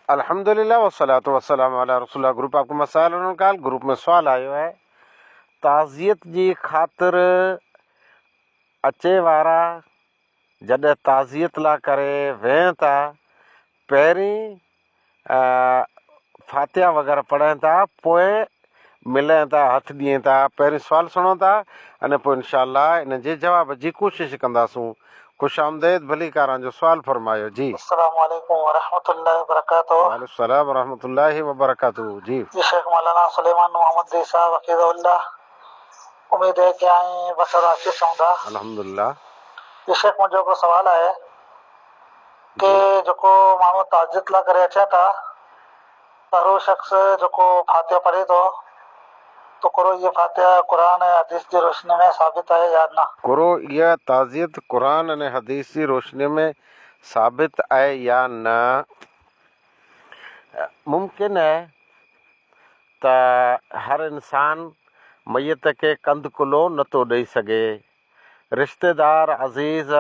الحمد لله والصلوة والسلام علی رسول الله گروپ آپ ڪي مسائل انهن ڪال گروپ ۾ سوال آيو آهي تعزيت جي خاطر اچي وارا جڏهن تعزيت لا ڪري ويهن ٿا پهرين فاتحه وغيره پڙهن ٿا پوء ملين ٿا هٿ ڏين ٿا پهرين سوال سڻون ٿا ۽ پوء انشاء الله ان جي جواب جي ڪوشش ڪنداسون خوش آمديد ڀليڪاران جو سوال فرمايو جي. السلام عليڪم ورحمة الله وبرڪاته. وعليڪم السلام ورحمة الله وبرڪاته جي. جي شيخ مولانا سليمان محمد زي صاحب حفيظه الله اميد اهي ڪي آئين بصر عاقص هوندا. الحمد لله. جي شيخ منهنجو هڪڙو سوال آهي ڪي جيڪو ماڻهو تعزيت لا ڪري اچين ٿا. اھڙو شخص جيڪو فاتحه پڙھي ٿو، تو ڪرو اھا فاتحه قرآن ۽ حديث جي روشنيء ۾ ثابت آھي يا نه؟ ڪرو اھا تعزيت قرآن ۽ حديث جي روشنيء ۾ ثابت آھي يا نه؟ ممڪن آھي ته ھر انسان ميت کي ڪنڌ ڪلھو نه ٿو ڏئي سگھي. رشتيدار، عزيز،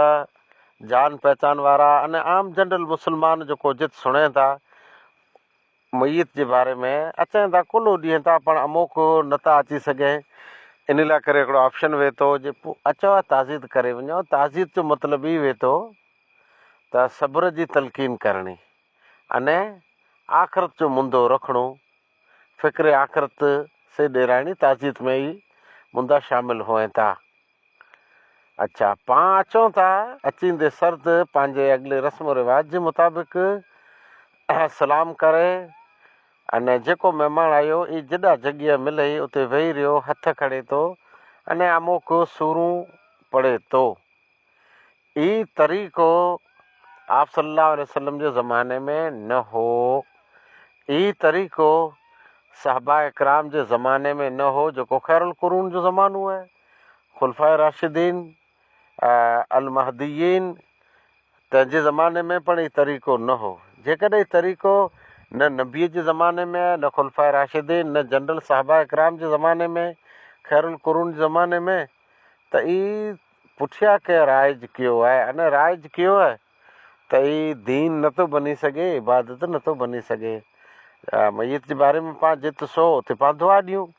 جان پهچان وارا ۽ عام جنرل مسلمان جيڪو جت سڻين ٿا، ميت جي باري ۾ اچين ٿا ڪلهو ڏين ٿا پڻ اموکو نه ٿا اچي سگهين ان لاء ڪري هڪڙو آپشن وهي ٿو جي پو اچو ها تعزيت ڪري وڃو تعزيت جو مطلب هي وهي ٿو ته صبر جي تلقين ڪرڻي اني آخرت جو مندو رکڻو فڪر آخرت سي ڏيرائڻي تعزيت ۾ هي مندا شامل هئين ٿا. اچا پان اچون ٿا. اچيندي سرد پنهنجي اڳلي رسم و رواج جي مطابق سلام ڪري ان جيڪو مهمان آيو اي جڏا جڳهيه ملئي اتي ويهي رهيو هٿ کڻي تو ان اموڪ سورون پڙهي تو. اي طريقو آپ صلي الله عليه وسلم جي زماني ۾ نه هو. اي طريقو صحابه ڪرام جي زماني ۾ نه هو جيڪو خيرالقرون جو زمانو آهي. خلفاء راشدين المهديين تن جي زماني ۾ پڻ هي طريقو نه هو. جيڪڏهن هي طريقو نه نبيء جي زماني ۾ آهي، نه خلفاء راشدين، نه جنرل صحابه ڪرام جي زماني ۾، خير القرون جي زماني ۾، ته هي پٺيان ڪنهن رائج ڪيو آهي. ان رائج ڪيو آهي ته هي دين نه ٿو بني سگهي، عبادت نه ٿو بني سگهي. ميت جي باري ۾ پاڻ جت سو اتي پاڻ دعا ڏيون.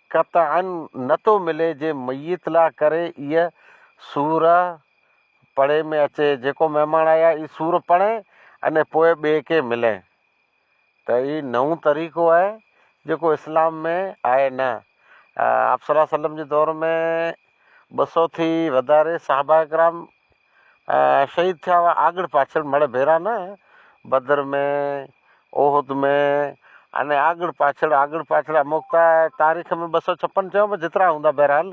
قطعاً نه ٿو ملي جي ميت لا ڪري ايء سورة پڙهي ۾ اچي، جيڪو مهمان آيا اي سورة پڙهين اني پوء ٻئي کي ملين ته اي نئون طريقو آهي جيڪو اسلام ۾ آهي نه. آپصلعم جي دور ۾ ٻه سو ٿي وڌاري صحابه ڪرام شهيد ٿيا هئا آڳڙ پاڇل مڙهه ڀيرا نه، بدر ۾ احد ۾ ۽ آڳڙ پاڇل آڳڙ پاڇل اموڪتا تاريخ ۾ ٻه سؤ ڇپن چيو پر جيترا هوندا بهرحال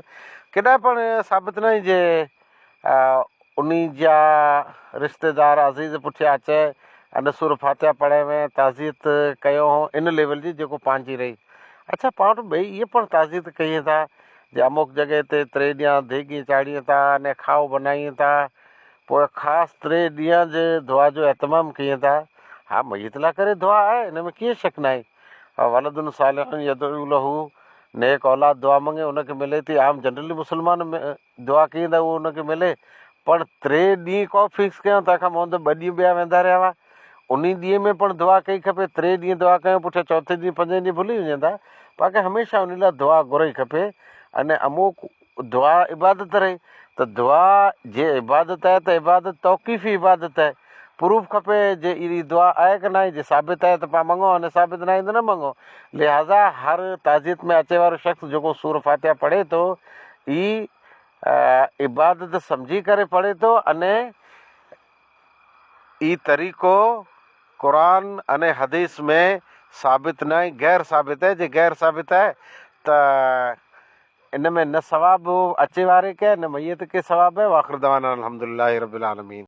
ڪيڏانهن پڻ ثابت ناهي جي انهي جا رشتيدار عزيز پٺيان اچي ۽ سوره فاتحه پڙهي وين تعزيت ڪيون هون ان ليول جي جيڪو پنهنجي رهي اڇا پاڻ وٽ ٻئي اهي پڻ تعزيت ڪيئن ٿا ڄاموڪ جڳهه تي تري ڏيان ديڳي چاڙهين ٿا اني کاهو بنائين ٿا پوء خاص تري ڏيان جي دعا جو اهتمام ڪين ٿا ها ميت لاء ڪري دعا آهي ان ۾ ڪيئن شڪ ناهي ولد صالح يدعو له نيڪ اولاد دعا منگي ان کي ملي ٿي عام جنرلي مسلمان دعا ڪين ٿا اهو ان کي ملي پڻ تري ڏينهن ڪو فڪس ڪيان تنهن کان مهندي ٻه ڏينهن ٻيا ويندا رهيا هئا انهي ڏينهن ۾ پڻ دعا ڪئي کپي تري ڏينهن دعا ڪيو پٺيان چوٿين ڏينهن پنجين ڏينهن ڀلي وڃين ٿا باقي هميشه انهي لاء دعا گهرئي کپي ان امو دعا عبادت رهي ته دعا جي عبادت آهي ته عبادت توقيفي عبادت آهي پروف کپي جي اهڙي دعا آهي ڪه ناهي جي ثابت آهي ته پا منگو ان ثابت ناهي ته نه منگو لهذا هر تعزيت ۾ اچي وارو شخص جيڪو سور فاتحه پڙهي ٿو هي عبادت سمجهي ڪري پڙهي ٿو اني هي طريقو قرآن ۽ حديث ۾ ثابت نه ۽ غير ثابت آهي، جي غير ثابت آهي ته ان ۾ نه ثواب اچي واري کي آهي نه ميت کي ثواب آهي، واخر دعوانا ان الحمدلله رب العالمين.